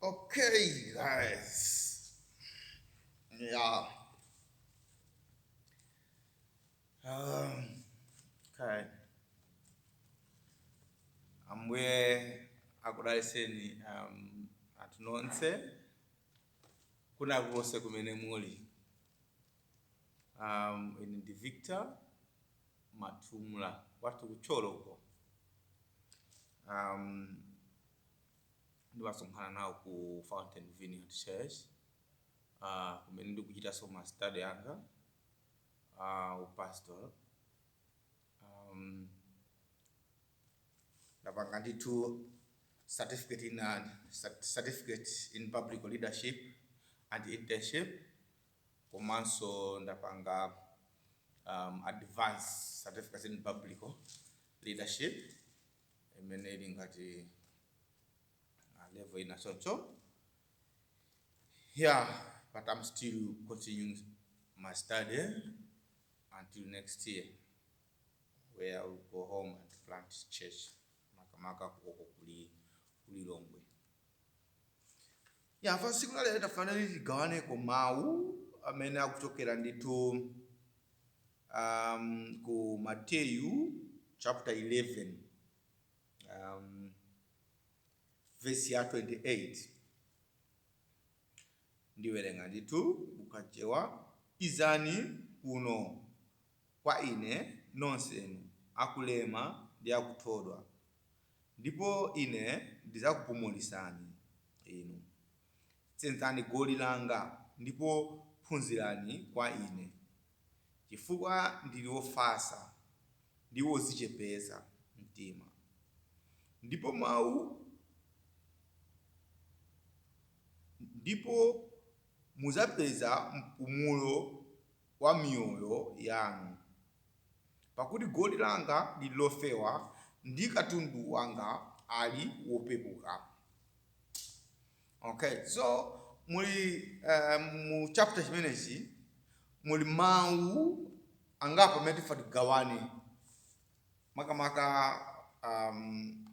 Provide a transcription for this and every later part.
Okay, guys. Yeah. Um, okay. Ambuye akudaliseni um, anthu nonse kwina kukonse kumene muli um, ine ndi Victor Matumula kwathu ku Thyolo uko um, ndimasonkhana nawo ku Fountain Vineyard Church uh, kumene ndikuchitanso ma study anga uh, upastor um, ndapanga ndithu certificate in, uh, certificate in public leadership and internship komanso ndapanga um, advance certificate in biblical leadership imene ili ngati uh, level ina choncho yeah but i'm still continuing my study until next year where i will go home and plant church makamaka kukoko kuli kuli longwe Yeah, pa tsiku la lero tafuna kuti tigawaneko mawu amene akuchokera ndithu um, ku Mateyu chapter 11 um, verse ya 28 ndiwerenga ndithu mu Chichewa izani kuno kwa Ine, nonsenu akulema ndi akuthodwa, ndipo Ine ndidzakupumulitsani inu. Senzani goli langa, ndipo phunzirani kwa Ine, chifukwa ndili wofatsa ndi wodzichepetsa mtima, ndipo mau ndipo mudzapeza mpumulo wa miyoyo yanu. Pakuti goli langa liri lofewa ndi katundu wanga ali wopepuka. Okay, so muli uh, mu chapter chimenechi muli mawu angapo amene tifuna tigawane makamaka um,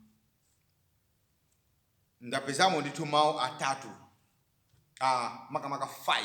ndapezamo ndithu mawu atatu uh, makamaka 5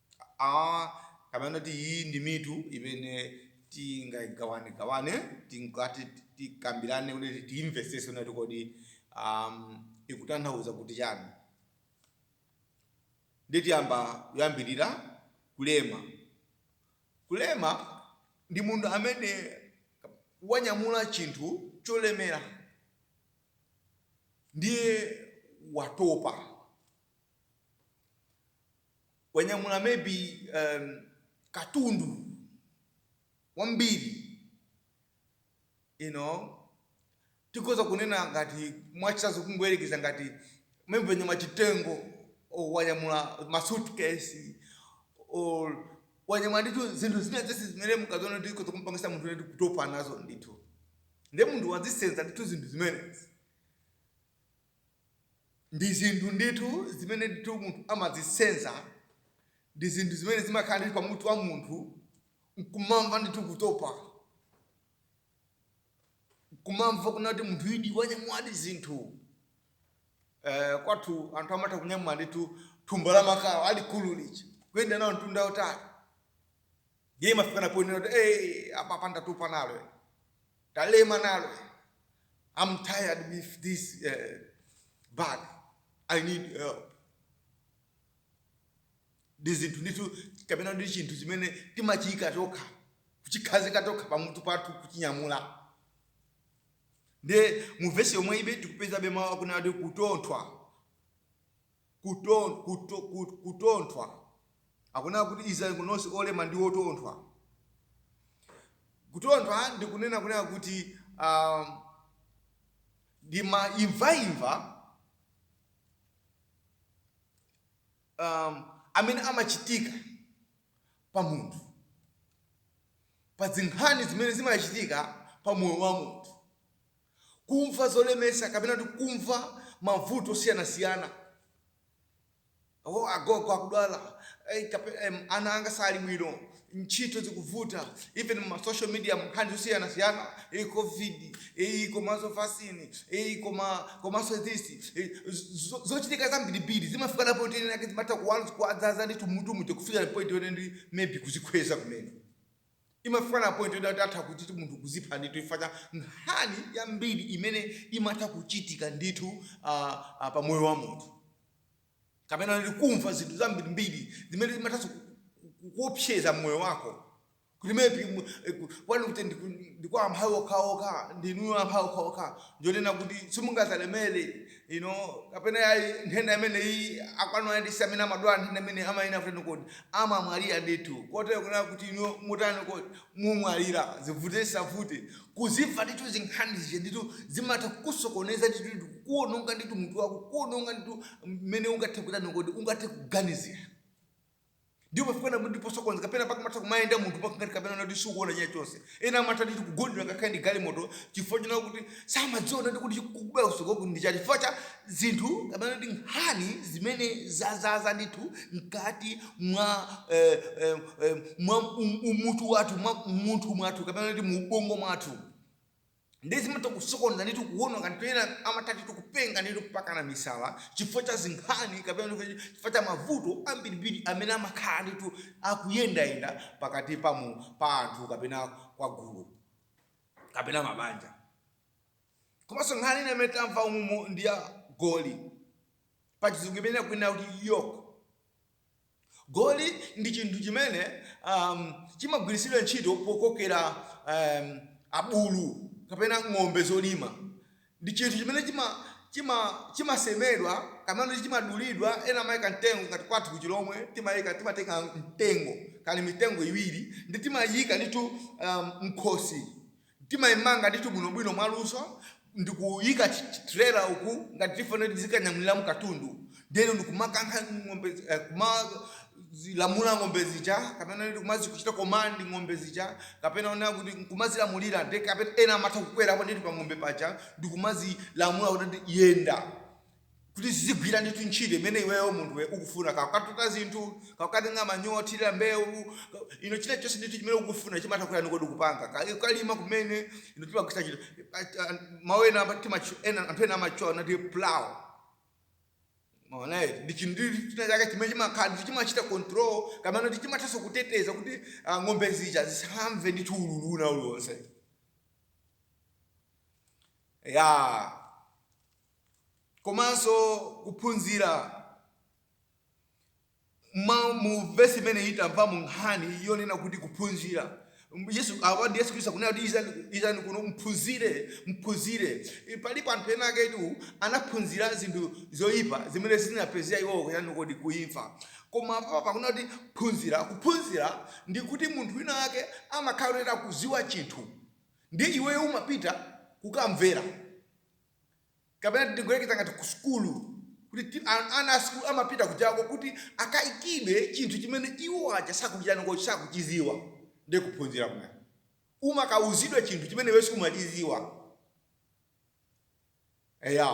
a Kapena kuti iyi ndi mitu imene tingaigawanegawane, tingati tikambirane kuti tiimvetsetse kunena kuti kodi ikutanthauza kuti chani. Ndiye tiyamba kuyambirira kulema. Kulema ndi munthu amene wanyamula chinthu cholemera ndiye watopa. wanyamula maybe um, katundu wambiri you know tikhoza kunena ngati mwachitsanzo kungoyerekeza ngati maybe wanyamula chitengo or wanyamula masuitcase or wanyamula ndithu zinthu zina zese zimene mukaziona kuti zikhoza kumpangisa munthu ndithu kutopa nazo ndithu nde munthu wazisenza ndithu zinthu zimenezi Ndi zinthu ndithu zimene ndithu munthu amazisenza, ndi zinthu zimene zimakhala ndithu pa mutu wa munthu, nkumamva ndithu kutopa, nkumamva kunena kuti munthu idi wanyamuladi zinthu. Eh, kwathu anthu amatha kunyamula ndithu thumba la makala alikulu lija kuyenda nawo mtunda wautali, ndiye imafikana ponena kuti eh, apa ndatopa nalo Ndalema nalo am tired with this uh, bag i need help ndi zinthu ndithu kapena ndi chinthu chimene timachiyika tokha kuchikhazika tokha pamutu pathu kuchinyamula nde mu vesi yomweyibe tikupezabe mawu akunena kuti kuthodwa kuthodwa, akunena kuti idzani kuno nonse olema ndi othodwa. Kuthodwa ndi kunena kunena kuti a ndi maimvaimva um, amene amachitika pa munthu pa zinkhani zimene zimachitika pa moyo wa munthu kumva zolemetsa kapena kuti kumva mavuto osiyanasiyana o agogo akudwala eh, kape- em, ana anga sali bwino ntchito zikuvuta even ma social media nkhani zosiyanasiyana iyi covid iyi komanso vaccine iyi koma komanso this eh, zo- zochitika zambirimbiri zimafika na point yoti ena ake zimatha kuwanza kuwadzaza ndithu mmutumu ndikufikira point yonena kuti maybe kuzikhweza kumene Imafika na point yoti atha kuti munthu kuzipha ndithu chifukwa cha nkhani yambiri imene imatha kuchitika ndithu uh, uh, pa moyo wa munthu kapena kuti kumva zinthu zambirimbiri zimene zimathanso kuopseza moyo wako kuti maybe m- eh, ku- kwanu kuti ndiku- ndikwa amphawi okhaokha ndinuyo amphawi okhaokha nchonena kuti simungazalemere inu kapena yayi nthenda imeneyi akwanu ayandisa amene amadwala nthenda imene amayenera kutani kodi amamwalira ndithu kotero kunena kuti inu mutani kodi mumwalira zivute zisavute kuzimva ndithu zinkhani zija ndithu zimatha kukusokoneza ndithu ndithu kukuononga ndithu mutu wako kukuononga ndithu mmene ungathe kutani kodi ungathe kuganizira Ndipo pofika ndithu posokoneza kapena mpaka umatha kumayenda munthu mpaka ngati kapena kuti sukuona china chonse. Ena amatha ndi kugundidwa ngakhale ndi galimoto chifukwa china kuti samadziwa ndithu kuti kukubwera kutsogoloku ndi chani chifukwa cha zinthu kapena ndi nkhani zimene zazaza ndithu mkati mwa eh, eh, eh, mwa um, umutu wathu mwa munthu mwathu kapena kuti mu ubongo mwathu nde zimatha kusokoneza ndithu kuwononga ndithu ena amatha ndithu kupenga ndithu mpakana misala chifukwa cha zinkhani kapena ndithu chifukwa cha mavuto ambirimbiri amene amakhala ndithu akuyendayenda pakati pa mu- pa anthu kapena kwa gulu kapena mabanja komanso nkhani ina imene tamva umumu ndi ya goli pachizungu imene akunena kuti yoke Goli ndi chinthu chimene chimagwiritsidwa ntchito pokokera abulu kapena ng'ombe zolima. Ndi chinthu chimene chimasemedwa kapena kuti chimadulidwa, ena amaika mtengo ngati kwathu ku Chilomwe timatenga mtengo kani mitengo iwiri ndiye timaiyika ndithu mkhosi Timaimanga ndithu bwinobwino mwaluso ndikuika trailer uku ngati tifuna kuti tizikanyamuliramo katundu then ndikumakankha ng'ombe eh, kumazilamula ng'ombe zija kapena kuti kumazikuchita komandi ng'ombe zija kapena kunena kuti nkumazilamulira nde kapena ena amatha kukwerapo ndithu pa ng'ombe paja ndikumazilamula kuti yenda kuti zizigwira ndithu ntchito imene iweyo munthuwe ukufuna kakatuta zinthu kakatenga manyowa othirira mbewu ka- ino china chonse ndithu chimene ukufuna chimatha kutani kodi kupanga Ka- kalima kumene ino timagwiritsa ntchito mawu ena ama- timachi- ena- anthu ena amachula kuti plow Alright. ndi chinthu china chake chimene chimakhala ndithu chimachita control kapena kuti chimathanso kuteteza kuti ah, ng'ombe zija zisamve ndithu ululu na uliwonse ya komanso kuphunzira ma- mu vesi imeneyi tamva mu nkhani yonena kuti kuphunzira yesu apa ndi yesu khristu akunena kuti izani izani kuno mphunzire mphunzire I- alipo anthu ena aketu anaphunzira zinthu zoyipa zimene zinapereka iwowo kutani kodi kuimfa koma apa pakunena kuti phunzira kuphunzira ndi kuti munthu wina wake amakhala kuti akudziwa chinthu ndiye iweyo umapita kukamvera kapena tingoyerekeza ngati ku sukulu kuti ti- an- ana a sukulu amapita kujako kuti akaikidwe chinthu chimene iwo aja sakuchitani kodi sakuchidziwa ndi kuphunzira kumene umakauzidwa chinthu chimene iwe sumachidziwa eya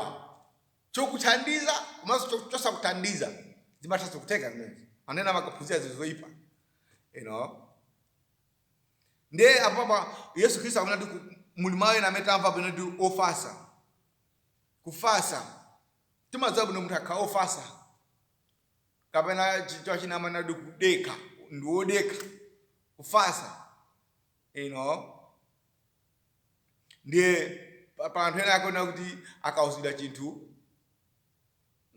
chokuthandiza komanso cho- chosakuthandiza zimathanso kutheka zimenezi ana ena amakaphunzira zinthu zoyipa you know ndiye apapa yesu khristu akunena kuti ku- muli mawu ena amene tamva pano ndi ofasa kufasa timadziwa bwino munthu akhala ofasa kapena chichewa china amanena kuti kudekha ndi wodekha kufasa you know ndiye pa- pa anthu ena akuona kuti akauzidwa chinthu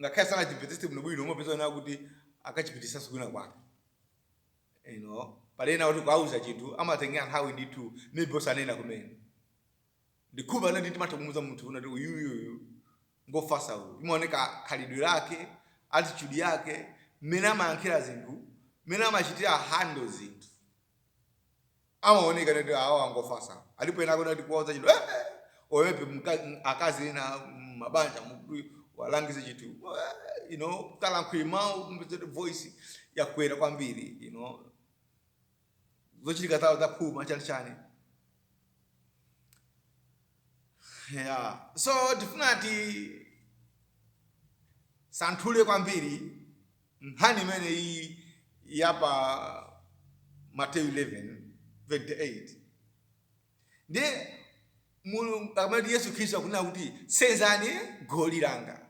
ngakhale sanachimvetsetse bwinobwino umapeza wanena kuti akachipititsa kwina kwake you know pali ena kuti kuauza chinthu amatengera nthawi ndithu maybe osanena kumene ndikhulupirira timatha kumuuza munthu kuti uyuyuyu ngofasa uyu limaoneka khalidwe lake attitude yake mmene amayankhira zinthu mmene amachitira handle zinthu amaoneka kuti awa ngofasa alipo ena akuona kuti kuwauza chinthu eh, eh, oyepe mka- m- akazi ena mm, mabanja muti muwalangize chinthu eh, you know kalankhuli mau mvetsere voice yakwera kwambiri you know zochitika zawo zaphuma chani chani yeah so tifuna tisanthule kwambiri Nkhani imeneyi ya pa Mateyu 11:28, ndiye Mulungu akamati kuti Yesu Khristu akunena kuti senzani goli langa.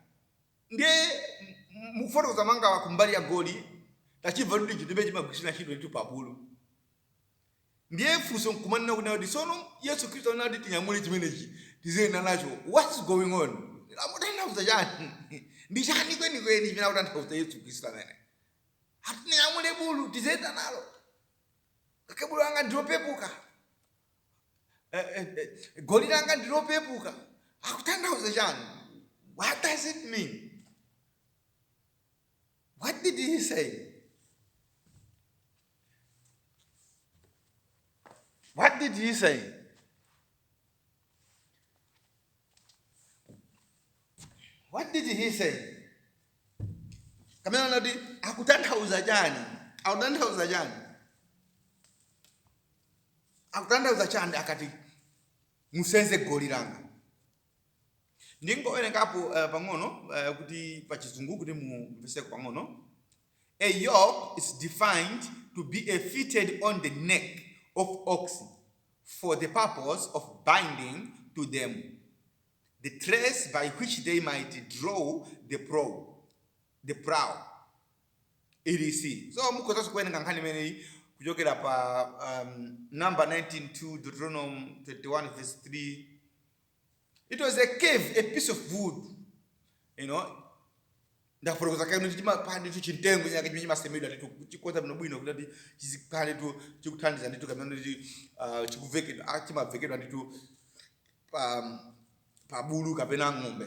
Ndiye m- mukufotokoza mwanga kumbali ya goli tachimva kuti chinthu chimagwiritsidwa ntchito ndithu pa bulu. Ndiye funso nkumanena kuti tsono Yesu Khristu anena kuti tinyamule chimenechi tiziyenda nacho. What's going on? Akutanthauza chani? Ndi chani kwenikweni chimene akutanthauza Yesu Khristu amene? Ati tinyamule bulu tiziyenda nalo. Kuti bulu langa ndilopepuka. Eh, eh, eh, goli langa ndilopepuka. Akutanthauza chani? What does it mean? What did he say? What did he say? What did he say? Pamene anati akutanthauza chani? Akutanthauza chani? Akutanthauza chani akati musenze goli langa? ndingowerengapo uh, pang'ono uh, kuti pa chizungu kuti mumvetseko pang'ono a yoke is defined to be a fitted on the neck of oxen for the purpose of binding to them the trace by which they might draw the plow the plow etc so mukhoza kuwerenga nkhani imeneyi kuchokera pa um, numbers 19:2 deuteronomy 21 verse 3 it was a carved piece of wood you know ndafotokoza kale kuti chimapanda ndithu chimtengo chake chimene chimasemedwa ndithu ndi kuchikonza bwino bwino kuti ati chizikhala ndithu chikuthandiza ndithu kapena kuti ah, chikuvekedwa ah, chimavekedwa ndithu pa pa bulu kapena ng'ombe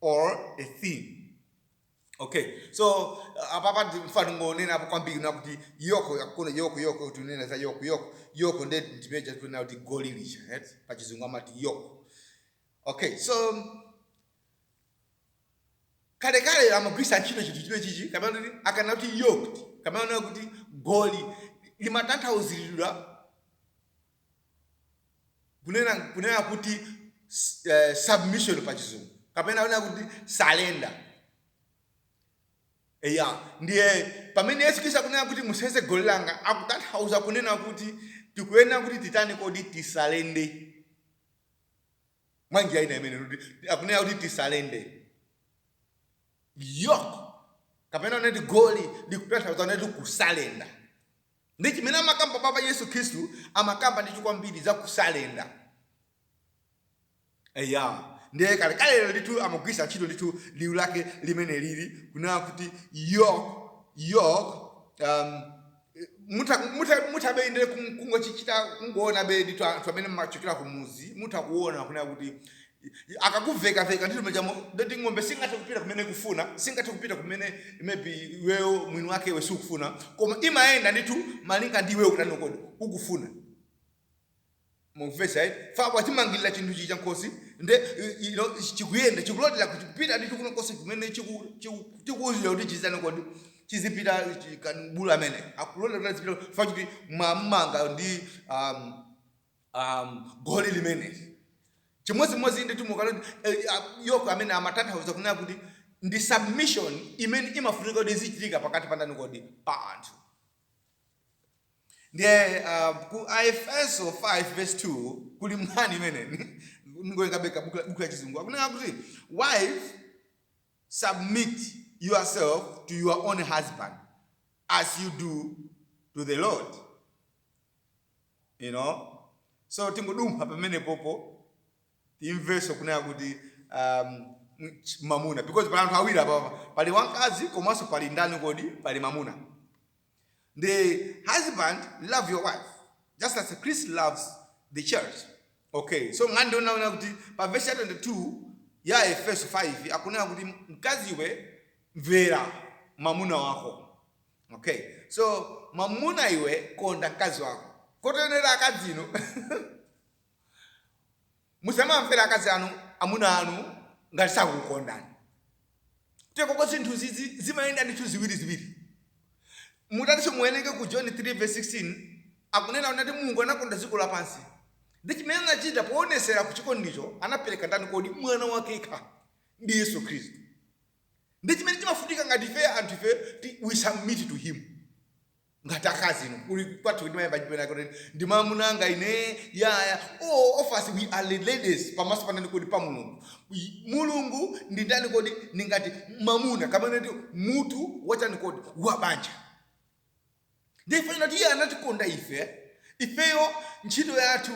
or a thing okay so uh, apapa mfano ngonena apo kwambiri ndi kuti yoke tikuona yoke yoke tikunena za yoke yoke yoke nde ndi muja tikunena kuti goli lija right pa chizungu amati yoke okay so kale kale amagwisa ntchito chinthu chimene chichi kapena kuti akana kuti yoked kapena kuti goli limatanthauzilidwa kunena kunena kuti eh, submission pa chizungu kapena kunena kuti salenda eya ndiye pamene yesu khristu akunena kuti musenze goli langa akutanthauza kunena kuti tikuyenera kuti titani kodi tisalende mwa njira ina kunena kuti akunena kuti tisalende yoke kapena kunena kuti goli likutanthauza kunena kuti kusalenda Ndi chimene amakamba apapa Yesu Khristu amakamba ndithu kwambiri za kusalenda. Eya, ndiye kalekalelo ndithu amagwiritsa ntchito ndithu liu lake limene liri kunena kuti yoke, yoke, um, mutha, mutha, muthabe ndithu kungochichita kungoonabe ndithu anthu amene mumachokera ku mudzi mutha kuona kunena kuti akakuveka veka ndithu mmenemo ndiye kuti ng'ombe singathe kupita kumene ikufuna singathe kupita kumene maybe iweyo mwini wake iwe sukufuna koma imayenda ndithu malinga ndi iweyo kutani kodi ukufuna mukumvetsa eh? fa wachimangirira chinthu chija m'khosi nde i- ino chikuyenda chikulotera kupita ndithu kwina konse kumene chiku- chiku- chikuuzira kuti chizitani kodi chizipita chi- kan- bulu amene akulotera kuti azipita fa kuti mwamanga ndi um, um, goli limeneli chimodzimodzi nditu mukalo eh, yoke amene amatanthauza kunena kuti ndi submission imene imafunika kuti izichitika pakati pa ndani kodi pa anthu ndiye uh, ku aefeso 5 verse 22 kuli nkhani imene ngoyekabeka buku la chizungu akunena kuti wife submit yourself to your own husband as you do to the lord you know so tingodumpha pamenepopo timvenso kunena kuti um, ch- mamuna because pali anthu awiri apapa pali wamkazi komanso pali ndani kodi pali mamuna the husband love your wife just as christ loves the church okay so ngati ndinaona kuti pa verse ya 22 ya efeso 5 akunena kuti mkaziwe mvera mamuna wako Ok so mwamuna iwe konda mkazi wako koteronso akazi inu musamamvera akazi anu amuna anu ngati sakukondani tekoko zinthu izi zimayenda ndithu ziwiri ziwiri mutatinso muwerenge ku john 3 verse 16 akunena kuti mulungu anakonda dziko lapansi ndi chimene anachita poonetsera kuchikondicho anapereka ndani kodi mwana wake yekha ndi yesu khristu Ndi chimene chimafunika ngati ifeyo anthu ifeyo ti we submit to him. Ngati akazi inu kuli kwathu timayamba chipena kuti ndi mamuna anga ine yaya all of us we are the ladies pamaso pa ndani kodi pa Mulungu. Y- Mulungu ndi ndani kodi ndi ngati mamuna amene ndi mutu wachani kodi wa banja. Ndi ifeyo ngati iye anatikonda ife ifeyo ntchito yathu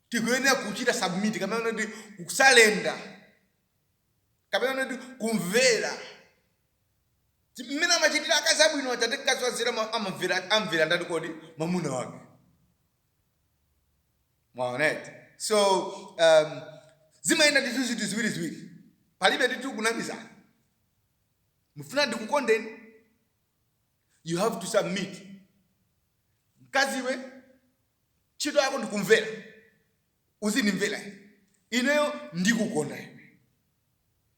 tikuyenera kuchita submit komwe ndi kusalenda kapena kuti kumvera Ti- mmene amachitira akazi abwino aja ati mkazi wanzeru ma- amamvera amvera ndani kodi mwamuna wake mwaonete so um, zimayenda ndithu zinthu ziwiri ziwiri palibe ndithu kunamizana mufuna ndikukondeni you have to submit mkazi iwe ntchito yako ndikumvera uzindimvera ine ineyo ndikukonda iwe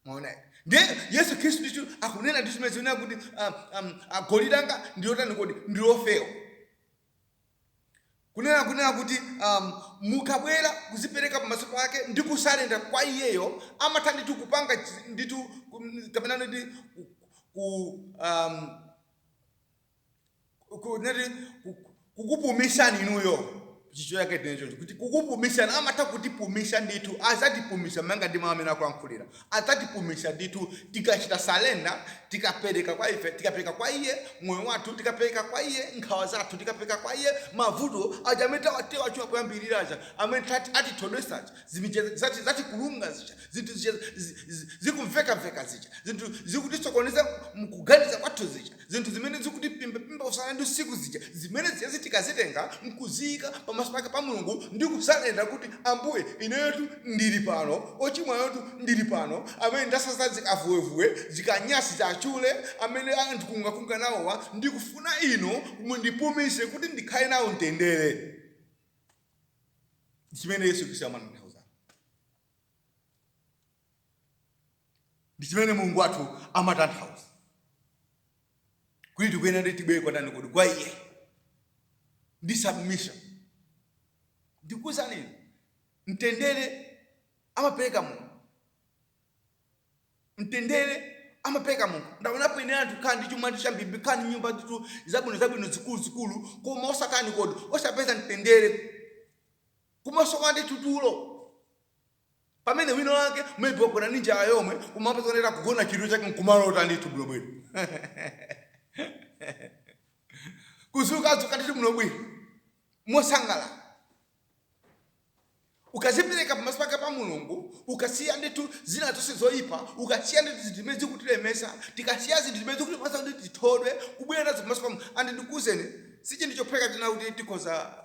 mwaona ndiye yesu khristu ndicho akunena ndi chimene akunena kuti um, um, ah, goli langa ndilotani kodi ndilofewa kunena kunena kuti um, mukabwera kuzipereka pamaso pake ndi kusalenda kwa iyeyo amatha ndithu kupanga chi- ndithu kum- kapena ndi ku- ku um, ku- nati ku- kukupumishani inuyo chicho chake tenechocho kuti kukupumishani amatha kutipumisha ndithu azatipumisha manga ndi mawu amene akulankhulira azatipumisha ndithu tikachita salenda tikapereka kwa ife tikapereka kwa iye moyo wathu tikapereka kwa iye nkhawa zathu tikapereka kwa iye mavuto aja amene tawatchula koyambirira aja amene tati- atithodwesa aja zimicheza zati zatikulunga zija zinthu zija zi- zi- zikumvekaveka zija zinthu zikutisokoneza mkuganiza kwathu zija Zinthu zimene zikutiphimbapimba usana ndi usiku zija, zimene zijazi tikazitenga n'kuziika pamaso pake pa Mulungu ndi kusalenda kuti, Ambuye, ineyotu ndili pano, wochimwayotu ndili pano, amene ndasasa zikavuwevuwe, zikanyasi za achule, amene andikungakunga nawowa, ndikufuna Inu mundipumise kuti ndikhale nawo mtendere. Ndi chimene Yesu Khristu amatanthauzatu. ndi chimene mulungu wathu amatanthauza kuti tikuyenera kuti tibwere kwa ndani kodi kwa iye ndi submission ndikuwuzani inu mtendere amapereka mulungu mtendere amapereka mulungu ndaonapo ine anthu kukhala ndi chuma ndi chambiri kukhala ndi nyumba nditu zabwino zabwino zikulu zikulu koma osatani kodi osapeza mtendere koma osakhala ndi tutulo Pamene wina wake maybe wagona ndi njala yomwe koma mupeza kuti akugona chidwi chake nkumalota ndithu bwinobwino kuzuka azuka ndithu bwinobwino mosangala ukazipereka pamaso pake pa mulungu ukasiya ndithu zina zonse zoyipa ukasiya ndithu zinthu zimene zikutilemesa tikasiya zinthu zimene zikutipangisa kuti tithodwe kubwera nazo pamaso pa mulungu and ndikuwuzeni si chinthu chophweka china kuti tikhoza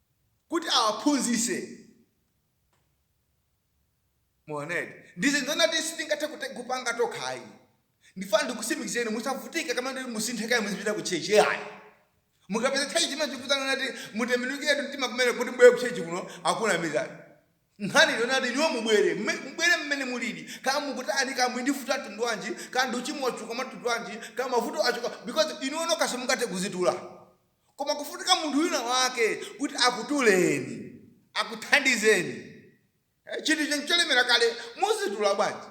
kuti awaphunzitse. Mwaona eti? Ndi zinthu zina kuti sitingathe kute- kupanga tokha ayi. Ndifuna ndikutsimikizireni inu musavutike kapena kuti musinthe kaye muzibwera ku chechi ayi. Mukapeza chechi chimene chikukuuzani kuti mutembenukiretu mtima kumene kuti mubwere ku chechi kuno akunamizani. Nkhani ndi yoti inuyo mubwere, mme- mubwere mmene mulili. Kaya mukutani, kaya muli ndi vuto la mtundu wanji, kaya ndi uchimo wachuka mwa mtundu wanji, kaya mavuto achuka because inuyo nokha simungathe kuzitula. Koma kufunika munthu wina wake kuti akutuleni, akuthandizeni. Chinthu icho ncholemera kale, muzitula bwanji?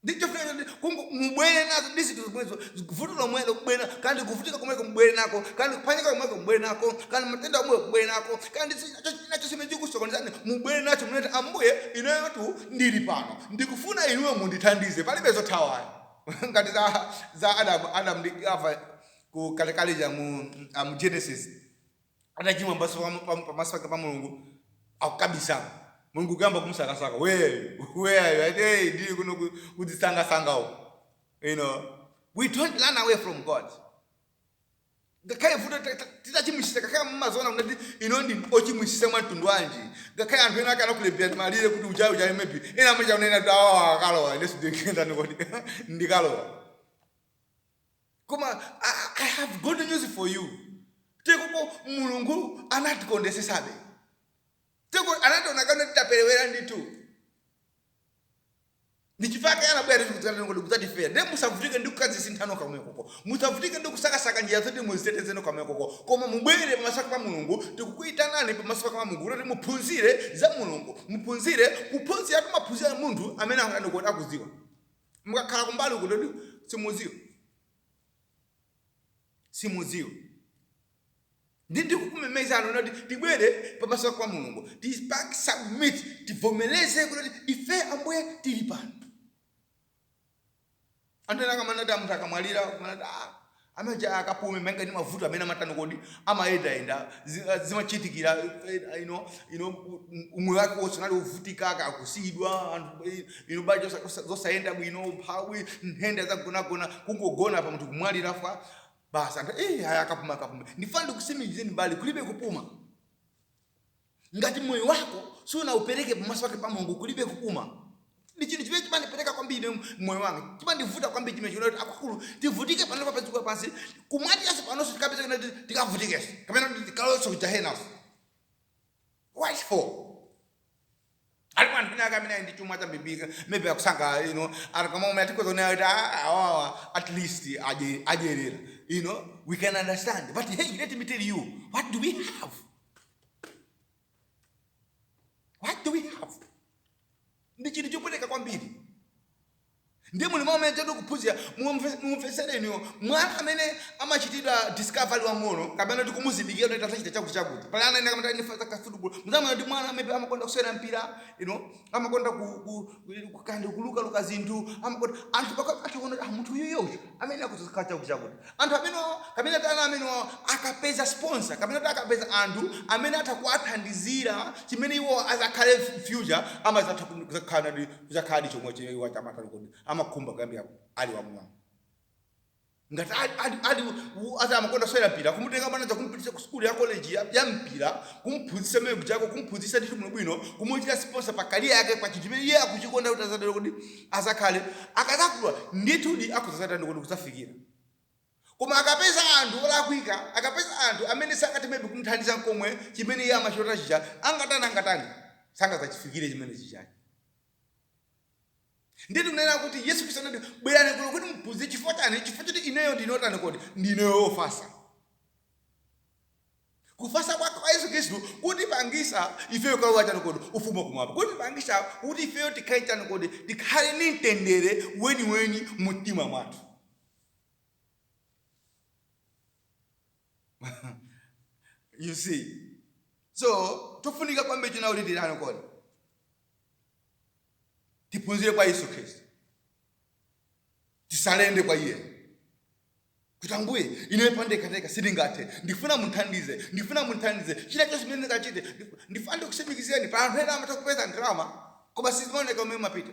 Ndi chofuna choti kungo- mubwere nazo ndi zinthu zomwezo, vuto lomwelo kubwere nako, kaya ndi kuvutika komweko mubwere nako, kaya ndi kuphwanyika komweko mubwere nako, kaya ndi matenda omwewo mubwere nako, kaya ndi si- cho- china chonse chimene chikusokonezani mubwere nacho, munene kuti Ambuye, ineyotu ndili pano, ndikufuna inuyo mundithandize, palibe zothawayo. ngati za za Adam Adam ndi Eva kalekale lija mu ah, mu Genesis atachimwa pamaso pa- pa- pamaso pake pa Mulungu akukabisala Mulungu kuyamba kumusakasaka wewe wewe ati hey ndili kuno ku- kudzisangasanga uko you know we don't run away from God ngakhale vuto ta- ta- titachimwisisa ngakhale mumaziona kuti inu ndi ochimwisisa mwa mtundu wanji ngakhale anthu ena akanakulemberani malire kuti uja ayi uja ayi maybe ena amachita kunena kuti awa akalowa ineso ndikatani kodi ndikalowa koma I, i have good news for you chikhalirecho mulungu anatikondesesabe teko anationa kana titaperewera nditu ndi chifukwa chake anabwera kuti kudzatifera ndiye musavutike ndi kukazisintha nokha komwekoko musavutike ndi kusakasaka njira zoti muziteteze nokha komwekoko koma mubwere pamaso pa mulungu tikukuyitanani pamaso pa mulungu kuti muphunzire za mulungu muphunzire kuphunzira timaphunzira ndi munthu amene akutani kodi akudziwa mukakhala kumbali uku nde kuti simudziwa simudziwa ndi ndikukumemezani nonse kuti tibwere pamaso pa mulungu tipange submit tivomereze kuti ife ambuye tili pano anthu ena amanena kuti munthu akamwalira kumanena kuti ah, ameneuja akapume malinga ndi mavuto amene amatani kodi amayendayenda zi- ah, zimachitikira eh, eh, ino ino u- umoyo wake wonse unali wovutika kusiyidwa anthu eh, ino banja zosa- zosa- zosayenda bwino umphawi nthenda zamgonagona kungogona pa munthu kumwalira fa Basi anthu eh, haya akapuma akapuma. Ndifuna ndikusimikizeni abale kulibe kupuma. Ngati moyo wako sunaupereke pamaso pake pa Mulungu kulibe kupuma. Ndi chinthu chimene chimandipweteka kwambiri mu- moyo wanga. Chimandivuta kwambiri chimenechi kuti akulu tivutike pano pa dziko lapansi kumwambanso panonso tikapeza kuti tikavutikenso kapena kuti tikalowenso kugahenanso. What for? alipo anthu ena ake amene ali ndi chuma chambiri maybe akusangalala you know anthu omwe mwina tikhoza kunena kuti "Ah, awawa at least adye- adyeratu you know we can understand but hey let me tell you what do we have what do we have ndi chinthu chopweteka kwambiri Ndiye mu liwu amene tiri kuphunzira, mumve, mumvetsere inuyo. Mwana amene amachitidwa discover ali wamng'ono, kapena kuti kumuzindikira kuti atha kuchita chakuti, chakuti. Pali ana ena amatha kuti ali fan wa football. Mudzamuona kuti mwana maybe amakonda kusewera mpira, you know, amakonda ku, ku, ku kapena kuluka luka zinthu, amakonda. Anthu pakati atha kuona kuti ah, munthu uyuyu uyu amene akudzakhala chakuti, chakuti. Anthu amenewawo, kapena kuti ana amenewawo akapeza sponsor, kapena kuti akapeza anthu amene atha kuwathandizira chimene iwo azakhale future, amazatha kuzakhala ndi Kudzakhaladi chomwe iwo aja amatani kodi? Amakhumba kuyambira ali wamng'ono. Ngati ali, ali, ali u- aza amakonda kusewera mpira, kumutenga mwana uja kumupititsa ku sukulu ya college ya, ya mpira, kumuphunzitsa kumene kujako, kumuphunzitsa ndithu bwinobwino, kumuchita sponsor pa career yake, pa chinthu chimene iye akuchikonda kuti azatani kodi azakhale. Akadzakula ndithudi akhoza kuzatani kodi kudzafikira. Koma akapeza anthu olakwika, akapeza anthu amene sangati maybe kumuthandiza nkomwe chimene iye amachilota chija, angatani, angatani, sangadzachifikire chimene chijayi. Ndiye tikunena kuti Yesu Khristu anati, bwerani kuno kuti muphunzire chifukwa chani, chifukwa choti ineyo ndine otani kodi, ndine ofatsa. Kufatsa kwa kwa Yesu Khristu kutipangisa ifeyo kukalowa chani kodi, ufumu wakumwamba. Kutipangisa kuti ifeyo tikhale chani kodi, tikhale ndi mtendere weniweni mu mtima mwathu. you see so tofunika kwambiri zedi kuti titani kodi tiphunzire kwa yesu khristu tisalende kwa iye kuti ambuye ineyo pandekhandekha sindingathe ndifuna munthandize ndifuna munthandize china chilichonse chimene ndingachite ndif- ndifuna ndikusimikizeni pali anthu ena amatha kupeza ndalama koma sizimaoneka kumene zimapita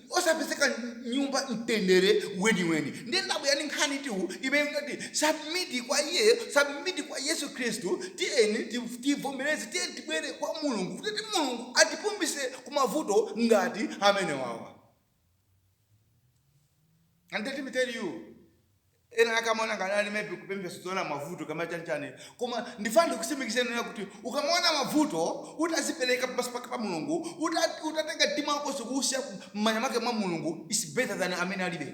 osapezeka nyumba mtendere weniweni ndiye ndabwera ndi nkhanitu imene ngati submit kwa iyeyo submit kwa yesu khristu tiyeni ti- tivomereze tiyeni tibwere kwa mulungu kuti ti mulungu atipumitse ku mavuto ngati amenewawa and let me tell you ena akamaona ngati ali maybe kupemphera sizoona mavuto kama chanchani koma ndifuna ndikusimikizeni nena kuti ukamaona mavuto utazipereka pamaso pake pa mulungu uta- utatenga mtima wako nkuusiya mmanja mwake mwa mulungu is better than amene alibe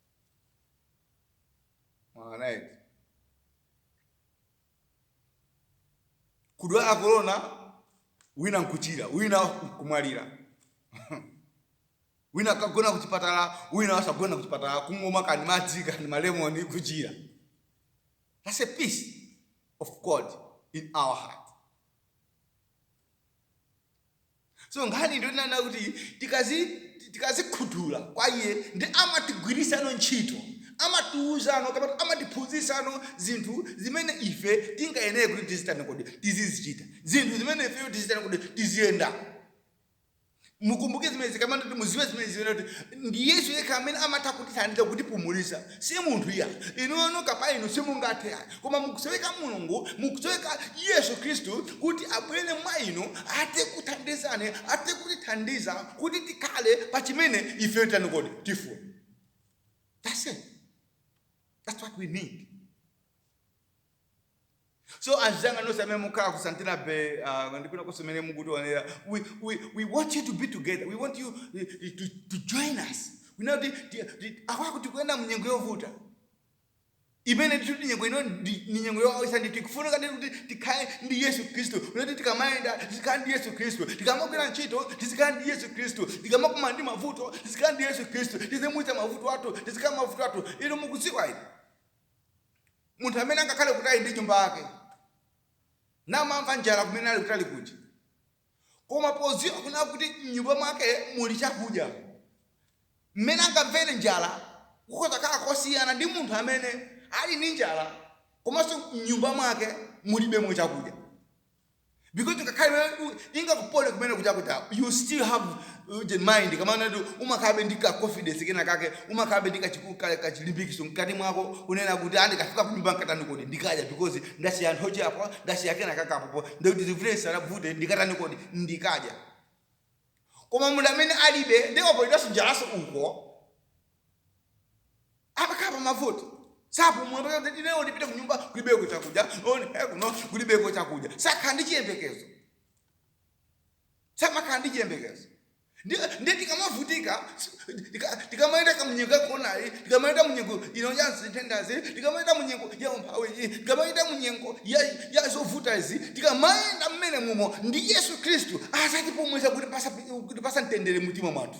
mwaona eti kudwala korona wina nkuchira wina kumwalira wina akagona kuchipatala wina wasagona kuchipatala kungomwa kani madzi kani malemoni kuchira that's a peace of god in our heart so nkhani ndi yonena kuti tikazi tikazikhutula kwa iye ndiye amatigwirisano ntchito amatiuzano kapena amatiphunzisano zinthu zimene ife tingayenere kuti tizitani kodi tizizichita zinthu zimene ifeyo tizitani kodi tiziyenda mukumbuke zimene zikamati kuti muziwe zimene zimene kuti ndi yesu yekha amene amatha kutithandiza kutipumulisa Si munthu iyayi. Inuyo nokha pa inu simungathe ayi. Koma mukusoweka Mulungu, mukusoweka Yesu Khristu kuti abwere mwa inu athe kukuthandizani, athe kutithandiza kuti tikhale pa chimene ifeyo titani kodi? Tifuna. That's it. That's what we need. So anzanga nonse amene mukhala ku Santana Bay uh, ndi kwina konse mene mukutionera we, we, we want you to be together we want you uh, to, to join us we know ti- ti- ti- akuti tikuyenda mu nyengo yovuta imene tikuti nyengo ino ndi ndi nyengo yowawitsa ndi tikufunika ndi kuti tikhale ndi yesu khristu kuti tikamayenda tizikhala ndi yesu khristu tikamagwira ntchito tizikhala ndi yesu khristu tikamakumana ndi mavuto tizikhala ndi yesu khristu tizimuyitsa mavuto athu tizikhala mavuto athu ino mukudziwa ino munthu amene angakhale kutali ndi nyumba yake namamva njala kumene ali kutali kuja koma poziwa kunena kuti mnyumba mwake muli chakudya mmene angamvere njala kukhoza khala kosiyana ndi munthu amene ali ndi njala komanso mnyumba mwake mulibemo chakudya because ngakhale iwe u- ingakupote kumene kuja kuja you still have uh, the mind kamana ndi umakhalabe ndi ka confidence kena kake umakhalabe ndi kachiku- ka- kachilimbikitso mkati mwako kunena kuti ah ndikafika kunyumba nkatani kodi ndikadya because ndasiya nthochi apo ndasiya kena kake apopo ndikuti zivule sarabvute ndikatani kodi ndikadya koma munthu amene alibe ndiye wapotedwanso njalaso uko amakhala pa mavuto sapumula mpaka kuti lero ndipite ku nyumba kulibeko chakudya oni eh, kuno kulibeko chakudya sakhala ndi chiyembekezo samakhala ndi chiyembekezo Ndi- ndiye tikamavutika tika- tikamayenda kamunyengo yakoronayi tikamayenda munyengo ino ya nthendazi tikamayenda munyengo ya umphawiyi tikamayenda munyengo ya, ya zovuta izi tikamayenda mmene mumo ndi yesu khristu azatipumuza kuti pasa- kuti pazamtendere mtima mwathu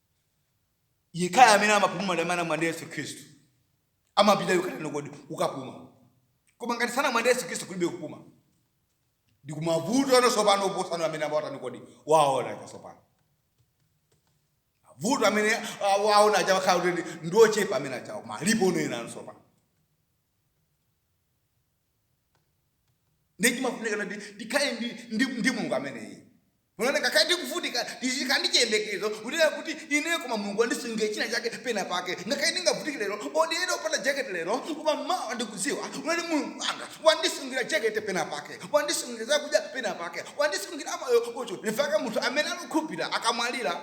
yekhayo amene amapuma ndi amene ali mwa yesu khristu amapita yokhalano kodi ukapuma koma ngati sali mwa yesu khristu kulibe kupuma ndi mavuto ano tsopano oposano amene amawatani kodi waona aja tsopano vuto amene ah, waona aja wakhala kuti ndiochepa amene achawo malipo unoyena ano tsopano ndichimafunika kuti ndikhale ndi- ndi- ndi mulungu ameneyi Onani, ngakhale ndikuvutika, ndizikhala ndi chiyembekezo kunena kuti, Ineyo koma Mulungu wandisungira chinachake penapake. Ngakhale ndingavutike lero, or ndiyende opanda jacket lero, koma mawa ndikudziwa, onani, Mulungu wanga wandisungira jacket penapake, wandisungira zakudya penapake, wandisungira moyo. Nchifukwa munthu amene ali wokhulupirira akamwalira,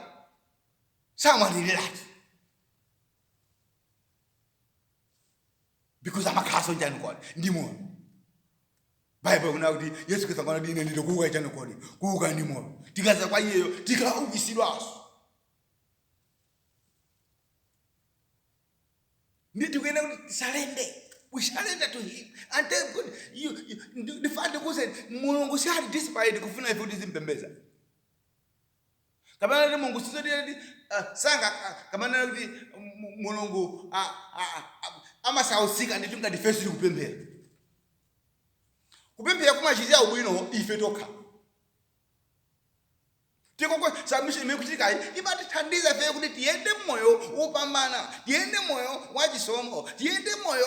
samwaliriratu. because amakhalanso ndi chani kodi ndi moyo baibulo ikunena kuti yesu kristu akunena kuti ine ndine kuuka chani kodi kuuka ndi moyo tikaza kwa iyeyo tikaukitsidwanso ndi tikuyenda kuti tisurrender we surrender to him and tell god you, you, ndifande kuze mulungu sali desperate kufuna ife kuti tizimpembedza kapena kuti mulungu sizoti sanga kapena kuti mu- mulungu a- a- a- a- amasautsika ndithu ngati ife sitikupemphera kupemphera kumatichitira ubwino ife tokha tikoko submission imene ikuchitikayi imatithandiza ife kuti tiyende mmoyo wopambana Tiyende moyo wa chisomo, tiyende moyo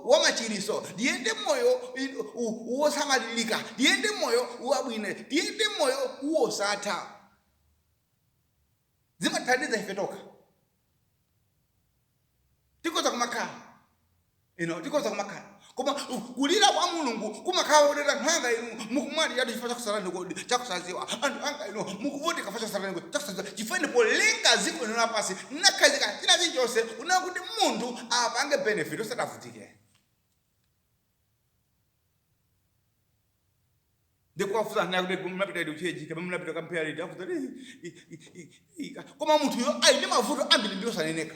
wa machiriso, tiyende moyo wosamalilika, tiyende moyo wabwino, tiyende moyo wosatha. Zimatithandiza ife tokha, tikhoza kumakhala You know, tikhoza kumakhala koma kulira kwa mulungu kumakhala koti anthu anga inu mukumwaliratu chifukwa chakusachani kodi chakusaziwa anthu anga inu mukuvutika chifukwa chakusachani kodi chakusaziwa chifukwa polenga ziko ino lapansi nakhazika china chilichonse kunena kuti munthu apange benefit asadzavutike ndikuwafunsa kunena kuti munapita liti ku church kaya munapita kukapemphera liti afunsa koma munthuyo ali ndi mavuto ambiri ndi osaneneka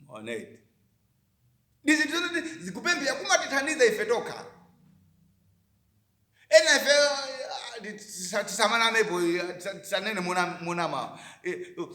Mwaona eti? Ndi zinthu zoti zikupemphera kumatithandiza ife tokha. Ena ife ah, tisa- tisamanamepo eh, tisa- tisanene mona- monama Eh, oh,